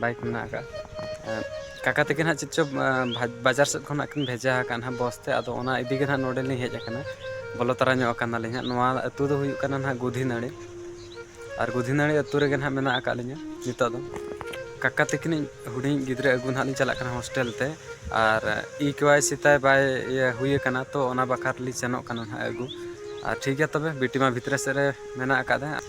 Bike ᱢᱮᱱᱟᱜ ᱟᱠᱟᱫᱼᱟ ᱟᱨ ᱠᱟᱠᱟ ᱛᱟᱹᱠᱤᱱ ᱦᱟᱸᱜ ᱪᱮᱫ ᱪᱚ ᱵᱟᱡᱟᱨ ᱥᱮᱫ ᱠᱷᱚᱱ ᱦᱟᱸᱜ ᱠᱤᱱ ᱵᱷᱮᱡᱟ ᱟᱠᱟᱫ ᱦᱟᱸᱜ ᱵᱚᱥ ᱛᱮ ᱟᱫᱚ ᱚᱱᱟ ᱤᱫᱤ ᱜᱮ ᱦᱟᱸᱜ ᱱᱚᱰᱮ ᱞᱤᱧ ᱦᱮᱡ ᱟᱠᱟᱱᱟ ᱵᱚᱞᱚ ᱛᱟᱨᱟ ᱧᱚᱜ ᱟᱠᱟᱱᱟᱞᱤᱧ ᱦᱟᱸᱜ ᱱᱚᱣᱟ ᱟᱹᱛᱩ ᱫᱚ ᱦᱩᱭᱩᱜ ᱠᱟᱱᱟ ᱦᱟᱸᱜ ᱜᱩᱫᱷᱤ ᱱᱟᱹᱲᱤ ᱟᱨ ᱜᱩᱫᱷᱤ ᱱᱟᱹᱲᱤ ᱟᱹᱛᱩ ᱨᱮᱜᱮ ᱦᱟᱸᱜ ᱢᱮᱱᱟᱜ ᱟᱠᱟᱫ ᱞᱤᱧᱟ ᱱᱤᱛᱚᱜ ᱫᱚ ᱠᱟᱠᱟ ᱛᱟᱹᱠᱤᱱᱤᱡ ᱦᱩᱰᱤᱧᱤᱡ ᱜᱤᱫᱽᱨᱟᱹ ᱟᱹᱜᱩ ᱦᱟᱸᱜ ᱞᱤᱧ ᱪᱟᱞᱟᱜ ᱠᱟᱱᱟ ᱦᱳᱥᱴᱮᱞ ᱛᱮ ᱟᱨ ᱤ ᱠᱮ ᱣᱟᱭ ᱥᱤ ᱛᱟᱭ ᱵᱟᱭ ᱤᱭᱟᱹ ᱦᱩᱭ ᱟᱠᱟᱱᱟ ᱛᱚ ᱚᱱᱟ ᱵᱟᱠᱷᱨᱟ ᱛᱮᱞᱤᱧ ᱥᱮᱱᱚᱜ ᱠᱟᱱᱟ ᱦᱟᱸᱜ ᱟᱹᱜᱩ ᱟᱨ ᱴᱷᱤᱠ ᱜᱮᱭᱟ ᱛᱚᱵᱮ ᱵᱤᱴᱤ ᱢᱟ ᱵᱷᱤᱛᱨᱤ ᱥᱮᱫ ᱨᱮ ᱢᱮᱱᱟᱜ ᱟᱠᱟᱫᱮ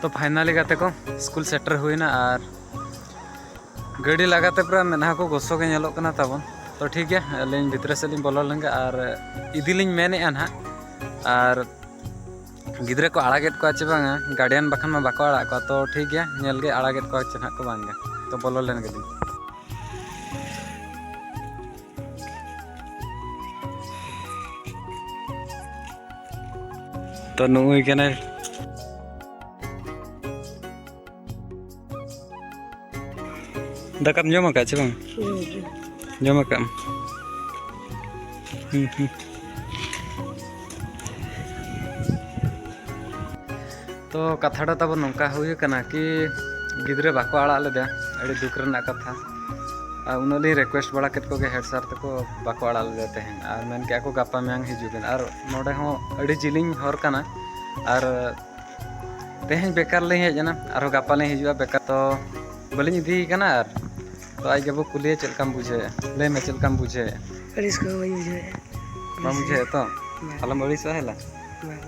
ᱛᱚ ᱯᱷᱟᱭᱱᱟᱞᱤ ᱜᱟᱛᱮ ᱠᱚ ᱥᱠᱩᱞ ᱥᱮᱴᱮᱨ ᱦᱩᱭᱱᱟ ᱟᱨ ᱜᱟᱹᱰᱤ ᱞᱟᱜᱟᱛᱮ ᱯᱩᱨᱟᱹ ᱢᱮᱫᱦᱟ ᱠᱚ ᱜᱚᱥᱚ ᱜᱮ ᱧᱮᱞᱚᱜ ᱠᱟᱱᱟ ᱛᱟᱵᱚᱱ ᱛᱚ ᱴᱷᱤᱠ ᱜᱮᱭᱟ ᱟᱹᱞᱤᱧ ᱵᱷᱤᱛᱨᱤ ᱥᱮᱫ ᱞᱤᱧ ᱵᱚᱞᱚ ᱞᱮᱱᱜᱮ ᱟᱨ ᱤᱫᱤᱞᱤᱧ ᱢᱮᱱᱮᱫᱼᱟ ᱱᱟᱦᱟᱜ ᱟᱨ ᱜᱤᱫᱽᱨᱟᱹ ᱠᱚ ᱟᱲᱟᱜᱮᱫ ᱠᱚᱣᱟ ᱪᱮ ᱵᱟᱝᱟ ᱜᱟᱨᱰᱤᱭᱟᱱ ᱵᱟᱠᱷᱟᱱ ᱢᱟ ᱵᱟᱠᱚ ᱟᱲᱟᱜ ᱠᱚᱣᱟ ᱛᱚ ᱴᱷᱤᱠ ᱜᱮᱭᱟ ᱧᱮᱞ ᱜᱮ ᱟᱲᱟᱜᱮᱫ ᱠᱚᱣᱟ ᱪᱮ ᱱᱟᱦᱟᱜ ᱠᱚ ᱵᱟᱝᱜᱮ ᱛᱚ ᱵᱚᱞᱚ ᱞᱮᱱ ᱜᱮᱞᱤᱧ ᱛᱚ ᱱᱩᱭ ᱠᱟᱱᱟᱭ ᱫᱟᱠᱟᱢ ᱡᱚᱢ ᱟᱠᱟᱫ ᱪᱮ ᱵᱟᱝ ᱡᱚᱢ ᱟᱠᱟᱫ ᱦᱩᱸ ᱦᱩᱸ ᱛᱚ ᱠᱟᱛᱷᱟ ᱫᱚ ᱛᱟᱵᱚᱱ ᱱᱚᱝᱠᱟ ᱦᱩᱭ ᱟᱠᱟᱱᱟ ᱠᱤ ᱜᱤᱫᱽᱨᱟᱹ ᱵᱟᱠᱚ ᱟᱲᱟᱜ ᱞᱮᱫᱮᱭᱟ ᱟᱹᱰᱤ ᱫᱩᱠ ᱨᱮᱱᱟᱜ ᱠᱟᱛᱷᱟ ᱟᱨ ᱩᱱᱟᱹᱜ ᱞᱤᱧ ᱨᱤᱠᱩᱭᱮᱥᱴ ᱵᱟᱲᱟ ᱠᱮᱫ ᱠᱚᱜᱮ ᱦᱮᱰ ᱥᱟᱨ ᱛᱟᱠᱚ ᱵᱟᱠᱚ ᱟᱲᱟᱜ ᱞᱮᱫᱮᱭᱟ ᱛᱮᱦᱮᱧ ᱟᱨ ᱢᱮᱱ ᱠᱮᱫᱼᱟ ᱠᱚ ᱜᱟᱯᱟ ᱢᱮᱭᱟᱝ ᱦᱤᱡᱩᱜ ᱵᱮᱱ ᱟᱨ ᱱᱚᱰᱮ ᱦᱚᱸ ᱟᱹᱰᱤ ᱡᱤᱞᱤᱧ ᱦᱚᱨ ᱠᱟᱱᱟ ᱟᱨ ᱛᱮᱦᱮᱧ ᱵᱮᱠᱟᱨ ᱞᱤᱧ ᱦᱮᱡ ᱮᱱᱟ ᱟᱨᱦᱚᱸ ᱜᱟᱯᱟ ᱞᱤᱧ ᱦᱤᱡᱩᱜᱼᱟ ᱵᱮᱠᱟᱨ ᱛᱚ ᱵᱟᱹᱞᱤᱧ ᱤᱫᱤᱭᱮ ᱠᱟᱱᱟ ᱟᱨ ᱛᱚ ᱟᱡ ᱜᱮᱵᱚ ᱠᱩᱞᱤᱭᱟ ᱪᱮᱫ ᱞᱮᱠᱟᱢ ᱵᱩᱡᱷᱟᱹᱣᱮᱫᱼᱟ ᱞᱟᱹᱭ ᱢᱮ ᱪᱮᱫ ᱞᱮᱠᱟᱢ ᱵᱩᱡᱷᱟᱹᱣᱮᱫᱼᱟ ᱟᱹᱲᱤᱥ ᱠᱚ ᱵᱟᱹᱧ ᱵᱩᱡᱷᱟᱹᱣᱮᱫᱼᱟ ᱵᱟᱢ ᱵᱩᱡᱷᱟᱹᱣᱮᱫᱼᱟ ᱛᱚ ᱟᱞᱚᱢ ᱟᱹᱲᱤᱥᱚᱜᱼᱟ ᱦᱮᱞᱟ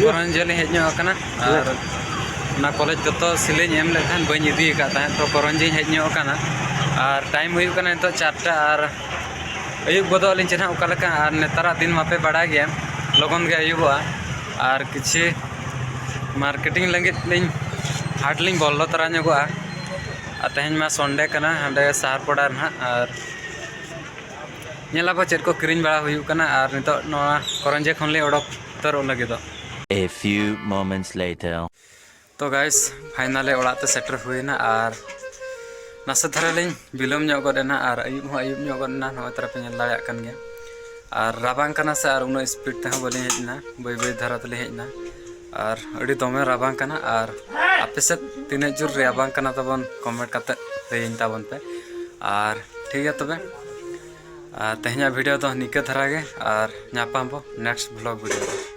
ᱜᱷᱟᱨᱚᱸᱡᱽ ᱡᱷᱟᱹᱞᱤ ᱦᱮᱡ ᱧᱚᱜ ᱟᱠᱟᱱᱟ ᱦᱮᱸ ᱟᱨ ᱚᱱᱟ ᱠᱚᱞᱮᱡᱽ ᱡᱚᱛᱚ ᱥᱤᱞᱟᱹᱧ ᱮᱢ ᱞᱮᱫ ᱛᱟᱦᱮᱸᱫ ᱵᱟᱹᱧ ᱤᱫᱤ ᱟᱠᱟᱫ ᱛᱟᱦᱮᱸᱫ ᱛᱚ ᱠᱚᱨᱚᱱᱡᱤᱧ ᱦᱮᱡ ᱧᱚᱜ ᱟᱠᱟᱱᱟ ᱟᱨ ᱴᱟᱭᱤᱢ ᱦᱩᱭᱩᱜ ᱠᱟᱱᱟ ᱱᱤᱛᱚᱜ ᱪᱟᱨᱴᱟ ᱟᱨ ᱟᱹᱭᱩᱵ ᱜᱚᱫᱚᱜ ᱟᱹᱞᱤᱧ ᱪᱮ ᱱᱟᱦᱟᱜ ᱚᱠᱟ ᱞᱮᱠᱟ ᱟᱨ ᱱᱮᱛᱟᱨᱟᱜ ᱫᱤᱱ ᱢᱟᱯᱮ ᱵᱟᱲᱟᱭ ᱜᱮᱭᱟ ᱞᱚᱜᱚᱱ ᱜᱮ ᱟᱹᱭᱩᱵᱚᱜᱼᱟ ᱟᱨ ᱠᱤᱪᱷᱤ ᱢᱟᱨᱠᱮᱴᱤᱝ ᱞᱟᱹᱜᱤᱫ ᱞᱤᱧ ᱦᱟᱴ ᱞᱤᱧ ᱵᱚᱞᱚ ᱛᱚᱨᱟ ᱧᱚᱜᱚᱜᱼᱟ ᱟᱨ ᱛᱮᱦᱮᱧ ᱢᱟ ᱥᱚᱱᱰᱮ ᱠᱟᱱᱟ ᱦᱟᱸᱰᱮ ᱥᱟᱦᱟᱨ ᱯᱟᱲᱟ ᱨᱮ ᱱᱟᱦᱟᱜ ᱟᱨ ᱧᱮᱞ ᱟᱵᱚ ᱪᱮᱫ ᱠᱚ ᱠᱤᱨᱤᱧ ᱵᱟᱲᱟ ᱦᱩᱭᱩᱜ ᱠᱟᱱᱟ ᱟᱨ ᱱᱤᱛᱚᱜ ᱱᱚᱣᱟ ᱠᱚᱨᱚᱱᱡᱮ ᱠᱷᱚᱱ ᱞᱮ ᱚᱰᱚᱠ ᱩᱛᱟᱹᱨᱚᱜ ᱞᱟᱹᱜᱤᱫᱚᱜ A few moments later. ᱛᱚ ᱜᱟᱭᱥ ᱯᱷᱟᱭᱱᱟᱞᱮ ᱚᱲᱟᱜ ᱛᱮ ᱥᱮᱴᱮᱨ ᱦᱩᱭᱮᱱᱟ ᱟᱨ ᱱᱟᱥᱮ ᱫᱷᱟᱨᱟ ᱞᱤᱧ ᱵᱤᱞᱚᱢ ᱧᱚᱜ ᱜᱚᱫ ᱮᱱᱟ ᱟᱨ ᱟᱹᱭᱩᱵ ᱦᱚᱸ ᱟᱹᱭᱩᱵ ᱧᱚᱜ ᱜᱚᱫ ᱮᱱᱟ ᱱᱚᱜᱼᱚᱭ ᱛᱟᱨᱟ ᱯᱮ ᱧᱮᱞ ᱫᱟᱲᱮᱭᱟᱜ ᱠᱟᱱ ᱜᱮᱭᱟ ᱟᱨ ᱨᱟᱵᱟᱝ ᱠᱟᱱᱟ ᱥᱮ ᱟᱨ ᱩᱱᱟᱹᱜ ᱥᱯᱤᱰ ᱛᱮᱦᱚᱸ ᱵᱟᱹᱞᱤᱧ ᱦᱮᱡ ᱞᱮᱱᱟ ᱵᱟᱹᱭ ᱵᱟᱹᱭ ᱫᱷᱟᱨᱟ ᱛᱮᱞᱤᱧ ᱦᱮᱡ ᱮᱱᱟ ᱟᱨ ᱟᱹᱰᱤ ᱫᱚᱢᱮ ᱨᱟᱵᱟᱝ ᱠᱟᱱᱟ ᱟᱨ ᱟᱯᱮ ᱥᱮᱫ ᱛᱤᱱᱟᱹᱜ ᱡᱳᱨ ᱨᱟᱵᱟᱝ ᱠᱟᱱᱟ ᱛᱟᱵᱚᱱ ᱠᱚᱢᱮᱱᱴ ᱠᱟᱛᱮ ᱞᱟᱹᱭᱟᱹᱧ ᱛᱟᱵᱚᱱ ᱯᱮ ᱟᱨ ᱴᱷᱤᱠ ᱜᱮᱭᱟ ᱛᱚᱵᱮ ᱛᱮᱦᱮᱧᱟᱜ ᱵᱷᱤᱰᱤᱭᱳ ᱫᱚ ᱱᱤᱝᱠᱟᱹ ᱫᱷᱟᱨᱟ ᱜᱮ ᱟᱨ ᱧᱟᱯᱟᱢ ᱵᱚ ᱱᱮᱠᱥᱴ ᱵᱷᱞᱚᱜ ᱵᱷᱤᱰᱤᱭᱳ ᱨᱮ